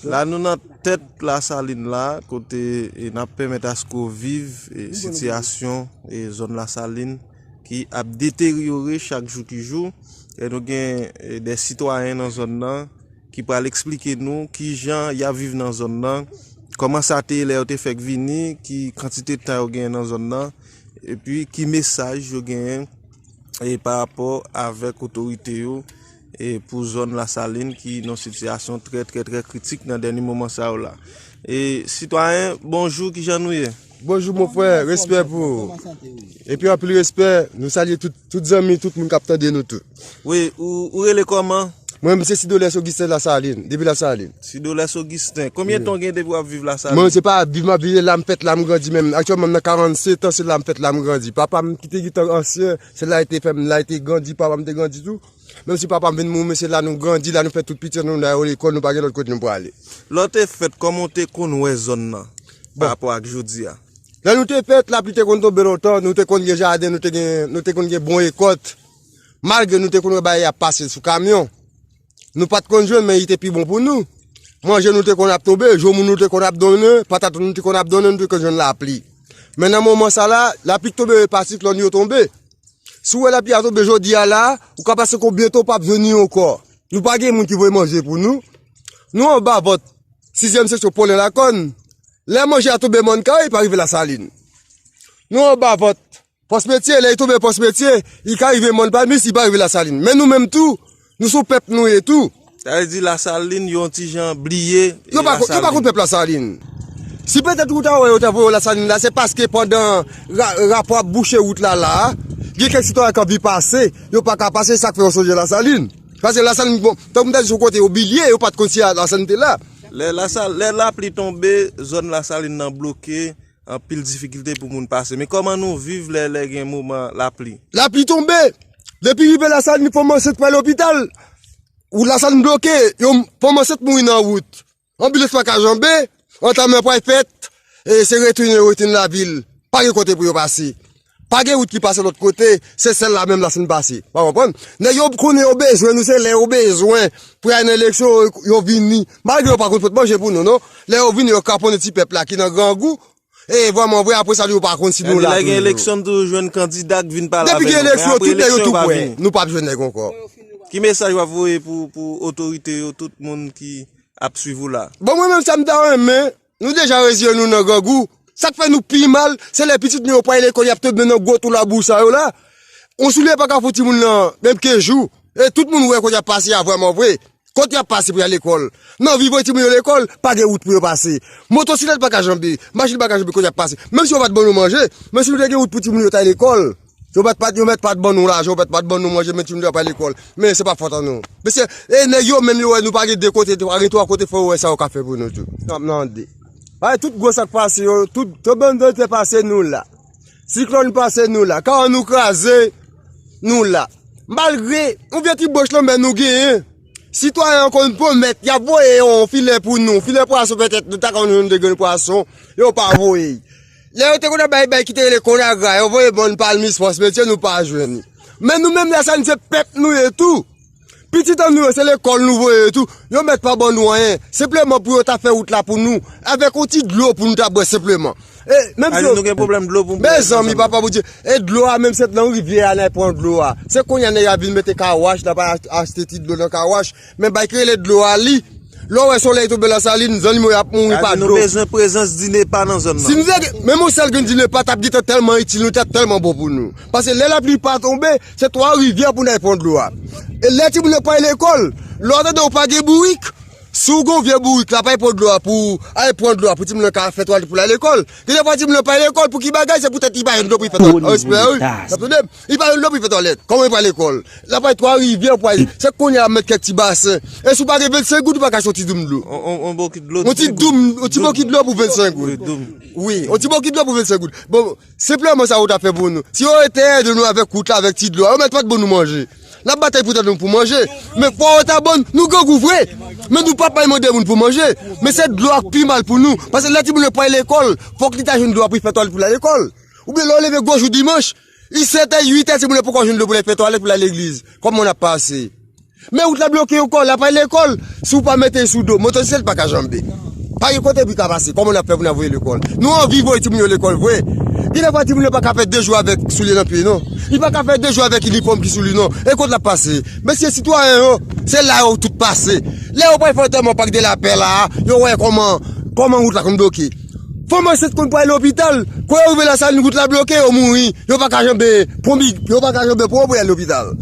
La nou nan tèt Lasalin la, kote n ap pèmèt aske w viv sitiyasyon zòn Lasalin ki ap deteryore chak jou ki jou. E nou gen de sitwayen nan zòn nan ki pral eksplike nou ki jan y ap viv nan zòn nan, kòman sa te ye lè yo te fèk vini, ki kantite tan yo genyen nan zòn nan, epi ki mesaj yo genyen parapò avèk otorite yo. E pou zòn lasalin ki nan sitiyasyon trè trè trè kritik nan dèni moman sa yo la. E sitwayen bonjou kijan nou ye? Bonjou mon frè respè pou ou. Koman sante ou ye? Epi anpil respè nou salye tout zanmi tout moun kap tande nou tout. Wi ou rele koman? Mwen menm se Sidolès Ogisten lasalin depi lasalin. Sidolès Ogisten konbyen tan ou gen depi wap viv lasalin? Mwen se pa ap viv map viv se la m fèt la m grandi menm aktyèlman m nan 47 ans se la m fèt la m grandi papam kite getan ansyen se la li te fèm la li te grandi papam te grandi tou Menm si papa m vin mouri men se la nou grandi, la nou fè tout pitit nou, nou ale lekòl, nou pa gen lòt kote nou prale. Lè w te fèt, kòman w te konn wè zòn nan pa rapò ak jodi a? Lè nou te fèt, lapli te konn tonbe lontan, nou te konn gen jaden, nou te gen, nou te konn gen bon rekòt. Malgre nou te konn wè bagay ap pase sou kamyon, nou pa t konn jwenn men li te pi bon pou nou. Manje nou te konn ap tonbe, joumou nou te konn ap donnen, patat nou te konn ap donnen, nou te konn jwenn lapli. Men nan moman sa la, lapli tonbe yo pa siklòn yo tonbe. Si w wè lapi a tonbe jodi a la, ou ka pase kon byento ou pa p jwenn li ankò. Nou pa gen moun ki voye manje pou nou. Nou anba vant sizyèm seksyon Polen Lakòn. Lè manje a tonbe Mòn Kay, li pa rive Lasalin. Nou anba vant Pòs Metye, lè li tonbe Pòs Metye, li ka rive Mòn Palmis, li pa rive Lasalin. Men nou menm tou. Nou sou pèp nou ye tou. Sa vle di lasalin yon ti jan bliye lasalin. Yo pa konn pèp lasalin. Si petèt ou ta wè yo ta voye w lasalin la se paske pandan rapò ap bouche wout la la a, gen kèk sitwayen k anvi pase, yo pa ka pase se sa k fè yo sonje lasalin. Paske lasalin bon, tank m ta di se yon kote yo bilye, yo pa t konn si lasalin te la. Lè lapli tonbe, zòn lasalin nan bloke. Anpil difikilte pou moun pase. Men kòman nou viv lè lè gen moman lapli? Lapli tonbe, depi rive Lasalin fanm ansent pral lopital, wout Lasalin bloke, yon fanm ansent mouri nan wout. Anbilans pa ka janbe, antanman pral fèt, e se retounen yo retounen lavil. Pa gen kote pou yo pase. Pa gen wout ki pase lòt kote, se sèl la menm la si n pase. Ou pa konprann? Nèg yo konnen yo bezwen nou, se lè yo bezwen pou y al nan eleksyon yo vini. Malgre yo pa konn pot manje pou nou non. Lè yo vini yo kraponnen ti pèp la ki nan grangou. E vrèman vre apre sa yo pa konn si nou la toujou. Lè gen eleksyon nou toujou jwenn kandida k vin pale avè nou. Depi gen eleksyon, tout nèg yo tou pwè. Nou pa p jwenn nèg ankò. Ki mesaj w ap voye pou otorite yo, tout moun ki ap swiv ou la? Bon mwen menm sa m ta renmen. Nou deja reziyen nou nan grangou. Sak fè nou pi mal, se lè pitit nou yo pa al lekòl yap tonbe nan gwo twou labou sa yo la. Yon soulye pa ka fou timoun nan menm 15 jou. E tout moun wè kot yap pase a vrèman vre. Kot yap pase pou yal lekòl. Nan vi voye timoun yo lekòl, pa gen wout pou yo pase. Motosiklèt pa ka janbe, machin pa ka janbe kot yap pase. Menm si yo pat ban nou manje, men si nou te gen wout pou timoun yo ta al lekòl. Yo mèt pat yo mèt pat ban nou lajan, yo mèt pat ban nou manje men ti moun yo ap al lekòl. Men se pa fòt an nou. Mesye, e nèg yo menm yo wè nou pa gen 2 kote, 3 gen 3 kote fò yo wè sa yo ka fè pou nou tou. Sa m mande. Bay tout gwo sa k pase yo, tout tonbando te pase nou la. Siklòn pase nou la. Ka nou kraze nou la. Malgre, yon vye ti bòch lanmè nou genyen. Sitwayen an konn pwomèt y ap voye yon filè pou nou, filè pwason petèt nou ta konn jwenn 2 grenn pwason, yo pa voye. Lè yo te konn ap bay bagay ki te rele konagra, yo voye ban nou pa al Mis Fòs Metye, nou pa jwenn li. Men nou menm lè sa a, nou se pèp nou ye tou. Pitit an nou yo, se lekòl nou voye yo tou. Yo mèt pa ban nou anyen. Senpleman pou yo ta fè wout la pou nou. Avèk yon ti dlo pou nou ta bwè senpleman. E, menm si yo. Annou nou gen pwoblèm dlo pou nou bwè. Mezanmi, papa Bondye. E dlo a menm se nan rivyè a n al pran dlo a. Se kounye a nèg a vin mete kawòch, n ap al achte ti dlo nan kawòch. Men bay ki rele dlo a li. Lè w wè solèy tonbe lan salin, zannimo yo ap mouri pa dlo. Sa di nou bezwen prezans Dinepa nan zòn nan. Menm yon sèl grenn Dinepa t ap gen tan tèlman itil nou, li t ap tèlman bon pou nou. Pase lè lapli pa tonbe, se Twa Rivyè pou n al pran dlo a. E lè timoun yo pa al lekòl, lè w tande yo pa gen bourik, si w gen yon vye bourik la pou al pran dlo a pou al pran dlo a pou timoun nan ka fè twalèt pou l al lekòl. Gen defwa timoun nan pa al lekòl pou ki bagay? Se poutèt li pa jwenn dlo pou l fè twalèt. Respè wi. N ap tande m. Li pa yon lè pou li fè twalèt. Kòman li pral lekòl? Lap al twa rivyè pou al. Se kounye a met kèk ti basen. E si w pa gen 25 goud ou pa ka achte yon ti doum dlo. Yon bokit dlo. Yon ti doum, yon ti bokit dlo pou 25 goud. Yon doum. Wi, yon ti bokit dlo pou 25 goud. Bon, senpleman sa yo ta fè pou nou. Si yo te ede nou avèk wout la, avèk ti dlo a, yo mèt pat ban nou manje. Nap batay pou tèt nou pou manje. Men fwa yo ta ban, nou grangou vre. Men nou pap al mande moun pou manje. Men se dlo a k pi mal pou nou. Pase lè timoun yo pral lekòl, fòk li ta jwenn dlo a pou li fè twalèt pou li al lekòl. Oubyen lè yo leve gwo jou dimanch. I sete 8 è timoun yo poko jwenn dlo pou lal fè twalèt pou lal legliz. Kòman nap pase? Men wout la bloke ankò, la pay lekòl, si w pa mete l sou do, motosiklèt pa ka janbe. Pa gen kote pou i ka pase, kòman nap fè pou nal voye lekòl? Nou anvi voye timoun yo lekòl vre, gen de fwa timoun yo pa ka fè 2 jou avèk soulye nan pye non. Li pa ka fè 2 jou avèk inifòm ki sou li non. E kot lap pase? Mesye sitwayen yo, se la yo tout pase. Lè yo pral fè antèman Pak de la Pè la a, yo wè kòman, kòman wout la konn bloke. Fanm ansent konn pral lopital, kwen yo rive lasalin wout la bloke yo mouri, yo pa ka janbe pran bi, yo pa ka janbe pran pou yal lopital.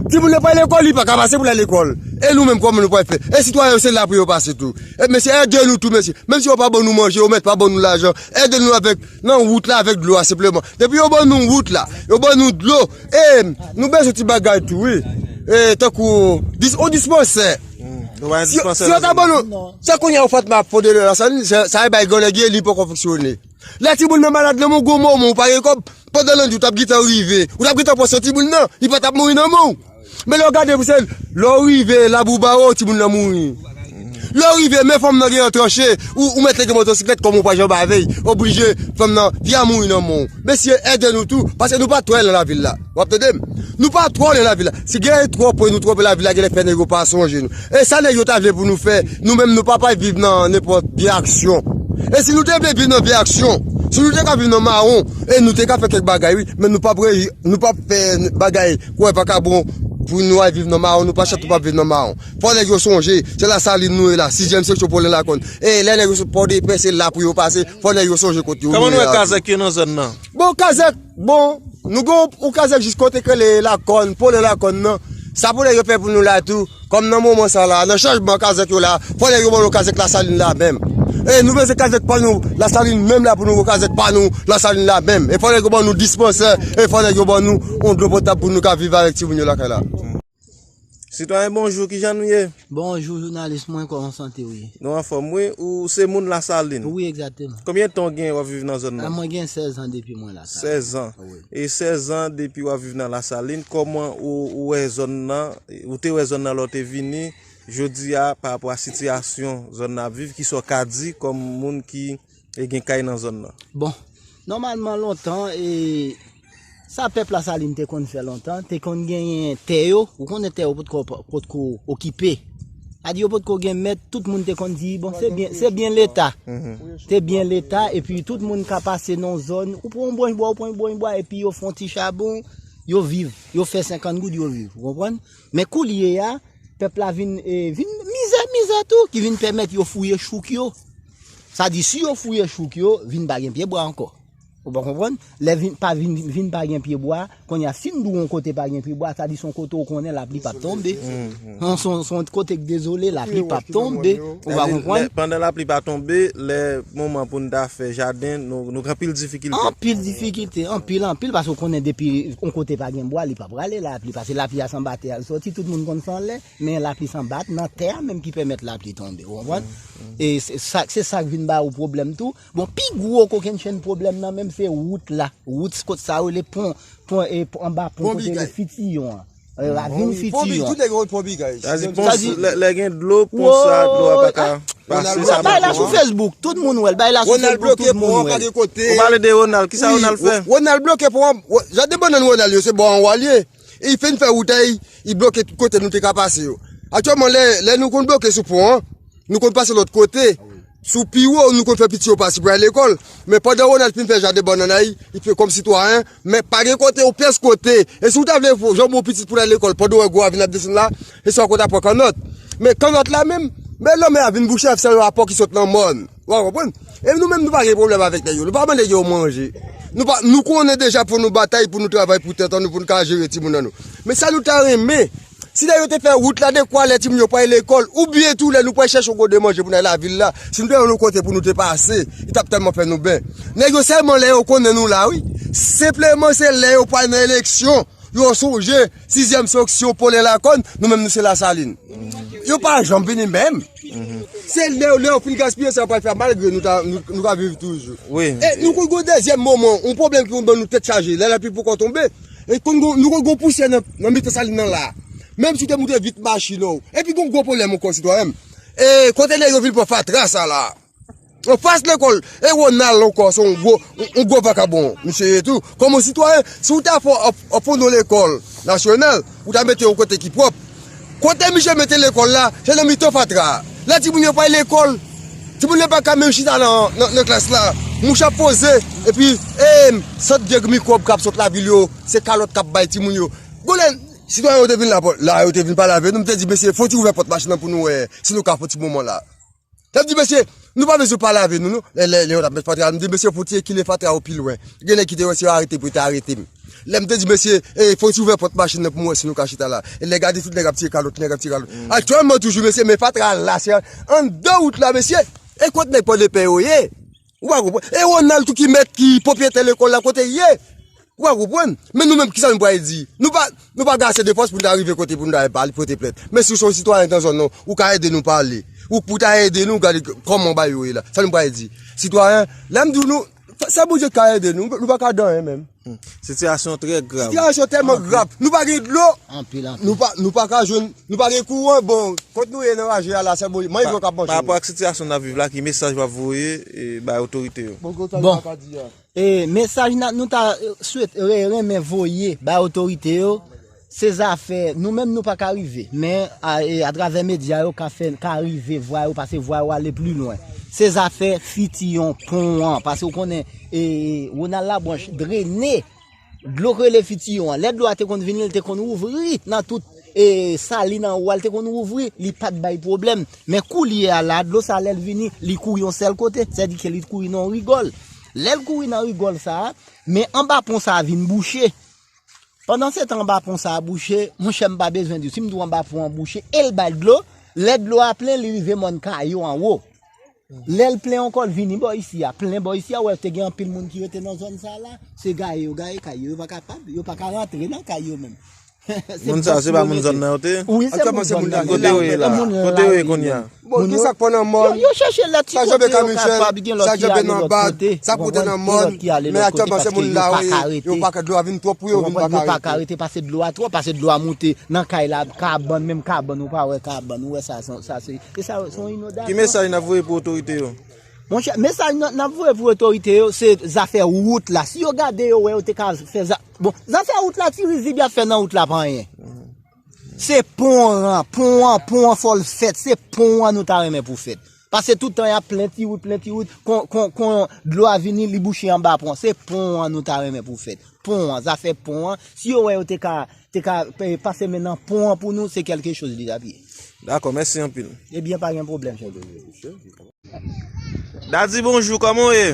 Timoun nan pa lekòl, li pa ka pase pou l al lekòl. E nou menm kòman nou pral fè? E sitwayen yo se la pou yo pase tou. E mesye ède nou tou mesye. Menm si yo pa ban nou manje, yo mèt pa ban nou lajan, ède nou avèk nan wout la avèk dlo a senpleman. Depi yo ban nou wout la, yo ban nou dlo, e nou bezwen ti bagay tou wi. E tankou yon dispansè. Si yo ta ban nou, se kounye a ou fèt map fonde lè la sa ni, sa e bay gò nèg ye li poko fonksyone. Lè ti moun nan malad nan moun gwo mò moun ou pa gen kòb, pandan nan di ou tap gitan rive, ou tap gitan pran swen ti moun nan, li pa tap mouri nan men ou. Men lè ou gade pou se, lè ou rive labou ba ou ti moun nan mouri. Lè ou rive men fanm nan gen yon tranche, ou mèt lege motosiklèt kòm ou pa janm avèy, oblije fanm nan, fi a mouri nan men ou. Mesye, ede nou tou, pase nou pa twè nan lavil la. Wap tande m? Nou pa twò nan lavi la. Si gen twòp pwen nou twòp nan lavi la, genlè fè nèg yo pa sonje nou. E sa nèg yo ta vle pou nou fè, nou menm nou pa pral viv nan nenpòt vye aksyon. E si nou te vle viv nan vye aksyon, si nou te ka viv nan mawon, e nou te ka fè kèk bagay wi, men nou pap reji, nou pap fè bagay kouwè vakabon pou nou al viv nan mawon, nou pa chat pou pa viv nan mawon. Fò nèg yo sonje, se Lasalin nou ye la, sizyèm seksyon Polen Lakòn. E lè nèg yo sot Pòdepè se la pou yo pase, fò nèg yo sonje kot yo. Kòman nou wè kazèk yo nan zòn nan? Bon kazèk. Bon Nou gen yon kazèk jis kote k rele lakòn, polo lakòn nan, sa pou lè yo fè pou nou la tou, kòm nan moman sa la, nan chanjman kazèk yo la, fò lè yo ban nou kazèk lasalin la menm. E nou bezwen kazèk pa nou lasalin menm la pou nou gen kazèk pa nou lasalin la menm. E fò lè yo ban nou dispansè, e fò lè yo ban nou yon dlo potab pou nou ka viv avèk timoun yo lakay la. Sitwayen bonjou, kijan nou ye? Bonjou jounalis mwen, kòman w sante w ye? Nou anfòm wi, ou se moun lasalin? Wi egzateman. Konbyen tan w gen wap viv nan zòn nan? Mwen gen 16 an depi mwen lasalin. 16 an? Wi. E 16 an depi wap viv nan lasalin, kòman ou wè zòn nan, ou te wè zòn nan lè w te vini, jodi a parapò a sitiyasyon zòn nan ap viv, kisa w ka di kòm moun ki. E gen kay nan zòn nan. Bon, nòmalman lontan, e, sa pèp Lasalin te konn fè lontan, te konn genyen tè yo, ou konnen tè yo potko, potko okipe. A di yo potko gen mèt, tout moun te konn di, bon, se byen, se byen Leta. Se byen Leta, epi tout moun ka pase nan yon zòn, ou pran yon branch bwa, ou pran yon branch bwa, epi yo fè yon ti chabon, yo viv. Yo fè 50 goud, yo viv. Ou konprann? Men koulye a, pèp la vin mizè, mizè tou ki vin pèmèt yo fouye chouk yo. Sa di si yo fouye chouk yo, vin pa gen pyebwa ankò. Ou pa konprann? Lè vin pa vin vin pa gen pyebwa, kounye a si m di w on kote pa gen pyebwa, sa di s on kote ou konnen lapli pap tonbe. S on kote k dezole, lapli pap tonbe. Ou pa konprann? Pandan lapli pa tonbe, lè moman pou n ta fè jaden, nou gen anpil difikilte. Anpil difikilte, anpil, anpil, paske ou konnen depi on kote pa gen bwa, li p Rale lapli, pase lapli a sanba tè a l soti, tout moun konn san l lè, men lapli sanba t nan tè a menm ki pèmèt lapli tonbe, ou konprann? E se sa k vin ba ou pwoblèm tou. Bon, pi gwo kokennchenn pwoblèm nan menm se wout la, wout kot sa yo rele pon, pon e anba pon kote rele Fitiyon an, ravin Fitiyon an. Tout nèg yo konn pon Bigay. Sa di pon, lè gen dlo, pon sa a dlo a pa ka pase, sa bay la sou Facebook, tout moun wè l, bay la sou Facebook, tout moun wè l. Ronald bloke pon an pa gen kote. Ou pale de Ronald, ki sa Ronald fè? Ronald bloke pon an. Jaden bannann Ronald yo se bò anwa l ye, e li fin fè wout a e li bloke tout kote nou te ka pase yo. Aktyèlman, lè nou konn bloke sou pon an, nou konn pase lòt kote, sou pi wo, nou konn fè piti yo pase pou y al lekòl. Men pandan Ronald fin fè jaden bannann a li, li fè kòm sitwayen, men pa gen kote, yon pyès kote. E si w ta vle janbe yon pitit pou l al lekòl pandan w wè gwo avni ap desann la, se sa w konn ta pran kannòt. Men kannòt la menm, men lanmè a vin bouche avèk sèl rapò ki sot nan mòn. Wa konprann? E nou menm nou pa gen pwoblèm avèk nèg yo. Nou pa ban nèg yo manje. Nou pa, nou konnen deja pou nou batay, pou nou travay pou tèt an nou, pou nou ka jere timoun an nou. Men sa nou ta renmen, si lè yo te fè wout la, dekwa lè timoun yo pwal lekòl, oubyen tou lè nou pwal chèche yon kote manje pou nou al lavil la, si nou te yon kote pou nou te pase, li tap tèlman fè nou bè. Nèg yo sèlman lè yo konnen nou la wi. Senpleman se lè yo pwal nan eleksyon, yo sonje sizyèm sanksyon polen lakòn, nou menm nou se lasalin. Yo pa janm vini menm. Se leu leu fin gaspiye sa yo pral fè malgre nou ta nou ka viv toujou. Wi. E nou konn gon dezyèm moman, yon pwoblèm ki konn ban nou tèt chaje, lè lapli poko tonbe, e konn gon nou konn gon pousyè nan nan mitan salin nan la a. Menm si w te moute vit machin w. Epi gon gwo pwoblèm ankò sitwayen m, e kote nèg yo vin pran fatra sa la a? Yo pas lekol e Ronald anko son gwo yon gwo vakabon misye ye tou kom yon sitwayen si ou ta fè yon fondon lekol nasyonal ou ta mete yon kote ki pwop kote misye mete lekol la se nan mitan fatra la timoun yo pa al lekol timoun yo pa ka menm chita nan klas la mouche ap poze epi em sant vyèg mikwob kap sot lavil yo se kalot kap bay timoun yo gwo lè sitwayen yo te vin la yo te vin pale avè nou mte di mesye fòk ti ouvè pòt machin nan pou nou wè si nou ka fè yon ti moman la. Lap di mesye, nou pa bezwen pale avè nou non. Lè lè lè yo tap met fatra, m di mesye fon ti ekile fatra yo pi lwen. Gen nèg ki te wè si yo arete pou yo ta arete m. Lè m te di mesye, e fon ti ouvè pòt machin nan pou m wè si nou ka chita la. E lè gade tout nèg ap tire kalòt, nèg ap tire kalòt. Aktyèlman toujou mesye men fatra la se anndan wout la mesye. E kot nèg pòdepè yo ye? Ou pa konprann? E Ronald tou ki mèt ki pwopriyetè lekòl la kote l ye? Ou pa konprann? Men nou menm kisa nou pral di? Nou pa nou pa gen ase de fòs pou nou ta rive kote pou nou ta al pale pote plent. Men si w se yon sitwayen nan zòn nan w, ou ka ede nou pale. Ou pou ta ede nou gade kòman bagay yo ye la. Sa nou pral di? Sitwayen, lè m di w nou, sèl Bondye k ka ede nou, nou pa ka dan anyen menm. Sitiyasyon an trè grav. Sitiyasyon an tèlman grav, nou pa gen dlo, nou pa ka jwenn, nou pa gen kouran, bon, kot nou ye nan raje a la, sèl Bondye, manje yo k ap manke yo. Parapò ak sitiyasyon n ap viv la, ki mesaj w ap voye bay otorite yo? Bon, mesaj nou ta renmen voye bay otorite yo, Se zafè nou menm nou pa ka rive, men atravè medya yo ka fè, ka rive vwa yo pase vwa yo ale pli lwen. Se zafè fiti yon pon an, pase ou konnen Ronald Labranche drene dlo k rele fiti yon an. Lè dlo a te konn vini l te konn ouvri nan tout sali nan ou a l te konn ouvri, li pa t bay pwoblèm. Men koulye a la, dlo sa a lè l vini, li kouri yon sèl kote, sè di ke li kouri nan yon rigòl. Lè l kouri nan rigòl sa a, men anba pon sa a vin bouche. Pandan se tan anba pon sa a bouche, monchè m pa bezwen di w, si m di w anba pon an bouche e l bay dlo, lè dlo a plen li rive mòn Kayo anwo. Lè l plen ankò l vini bò isi a, plen bò isi a, wè te gen anpil moun ki rete nan zòn sa a la, se gaye yo gaye kay yo, yo pa kapab, yo pa ka rantre nan kay yo menm. Moun sa yo se pa moun zòn nan yo te ye? Wi se moun zòn nan yo. Kote yo ye la a? Kote yo ye kounya? Bon ki sak fè nan mòn, sa janbe ka michel, sa janbe nan bag, sa pote nan mòn, men a tèlman se moun la wè yo pa ka dlo a vin twòp pou yo vin pa ka rete. Pase dlo a twòp, pase dlo a moute nan kay la, kabann, menm kabann ou pa wè kabann, ou wè sa se yon inondasyon. Ki mesaj nap voye pou otorite yo? Monchè, mesaj nap voye pou otorite yo se zafè wout la, si yo gade yo wè yo te ka fè zafè, bon zafè wout la ti rizib yap fè nan wout la pa anyen. Se pon an, pon an, pon an fòl fèt, se pon an nou ta renmen pou fèt. Pase tout tan yap plen ti wout, plen ti wout, kon, kon, kon, dlo a vini li bouche anba pon. Se pon an nou ta renmen pou fèt. Pon an, zafè pon an, si yo wè yo te ka, te ka pase men nan pon an pou nou, se kelke choz li tap ye. Dakò, mèsi anpil. Ebyen pa gen pwoblèm chèf de vil. Dady bonjou kòman w ye?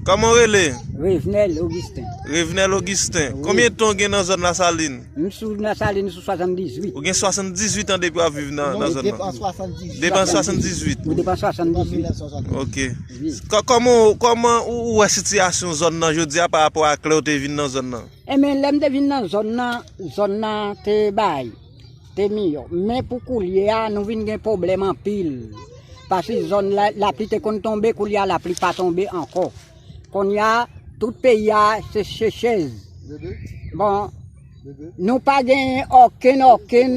Kòman w rele? Revenel Augustin. Revenel Augustin. Konbyen ton gen nan zòn la salin? M sou nan salin sou 78. Ou gen 78 an depi w ap viv nan zòn la? Depan 78. Depan 78? Ou depan 78. Ok. Kòman ou wè sitiyasyon zòn nan jodi a pa rapò ak lè ou te vin nan zòn nan? Enben lè m te vin nan zòn nan, zòn nan te bay. te miyò. Men pou koulye a, nou vin gen pwoblèm anpil. Pasi zòn lapli te konn tonbe, koulye a lapli pa tonbe ankò. Kounye a, tout peyi a se sechez. Bon, nou pa gen okenn okenn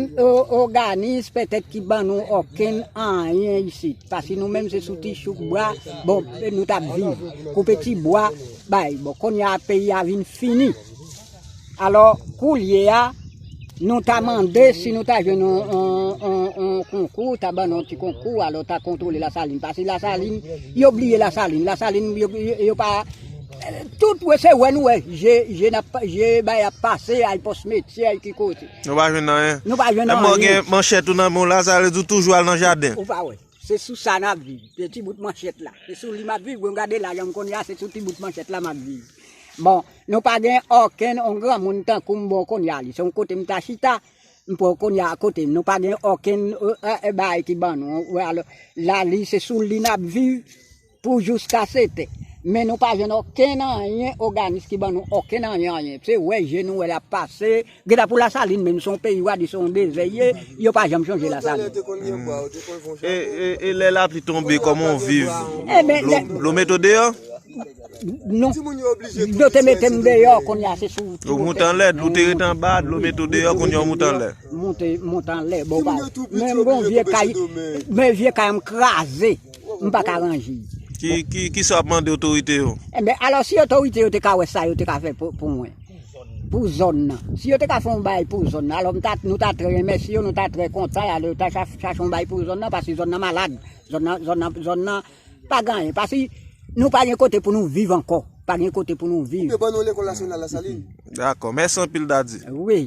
oganis petèt ki ban nou okenn anyen isi. Pasi nou menm se sou ti chouk bwa, bon, nou tap viv. Koupe ti bwa, bay. Bon, kounye a peyi a vin fini. Alò, koulye a, nou ta mande si nou ta jwenn yon konkou, yo ta ban nou yon ti konkou, alò ta kontwole Lasalin. Pase Lasalin, yo bliye Lasalin. Lasalin, yo pa... Tout wè se wè nou wè. Je bay ap pase, ay pòs metye, ay ki kote. Nou pa jwenn anyen. Nou pa jwenn anyen. Lè mò gen manchèt ou nan men w la, sa vle di ou toujou al nan jaden. Ou pa wè. Se sou sa n ap viv. Se ti bout manchèt la. Se sou li m ap viv. Bon, gade la jan m konn ya, se sou ti bout manchèt la m ap viv. Bon. Nou pa gen okenn on granmoun tankou m bon konya li se yon kote m ta chita m pran konya a kote m nou pa gen okenn bagay ki ban nou la li se sou li n ap viv pou jiskase te men nou pa jwenn okenn anyen oganis ki ban nou okenn anyen anyen se wè je nou wè l ap pase Geta pou lasalin menm son peyi wa di son dezè ye yo pa janm sonje lasalin. E lè lapli tonbe koman ou viv dlo meto deyo? Non dlo te metem deyo kounye a se sou wout. Ou moute anlè dlo te rete anba dlo meto deyo kounye ou moute anlè. Moute anlè bon pa menm bon vye kay men vye kay an kraze m pa ka range. Kisa wap mande otorite yo? Enben alò si otorite yo te ka wè sa yo te ka fè pou mwen. pou zòn nan si yo te ka fè yon bagay pou zòn nan alò m ta nou ta trè remèsye yo nou ta trè kontan e alò yo ta chache yon bagay pou zòn nan paske zòn nan malad zòn nan zòn nan zòn nan pa gen anyen paske nou pa gen kote pou nou viv ankò pa gen kote pou nou viv. Ou te ban non lekòl nasyonal Lasalin? Dakò, mèsi anpil Dady. Wi.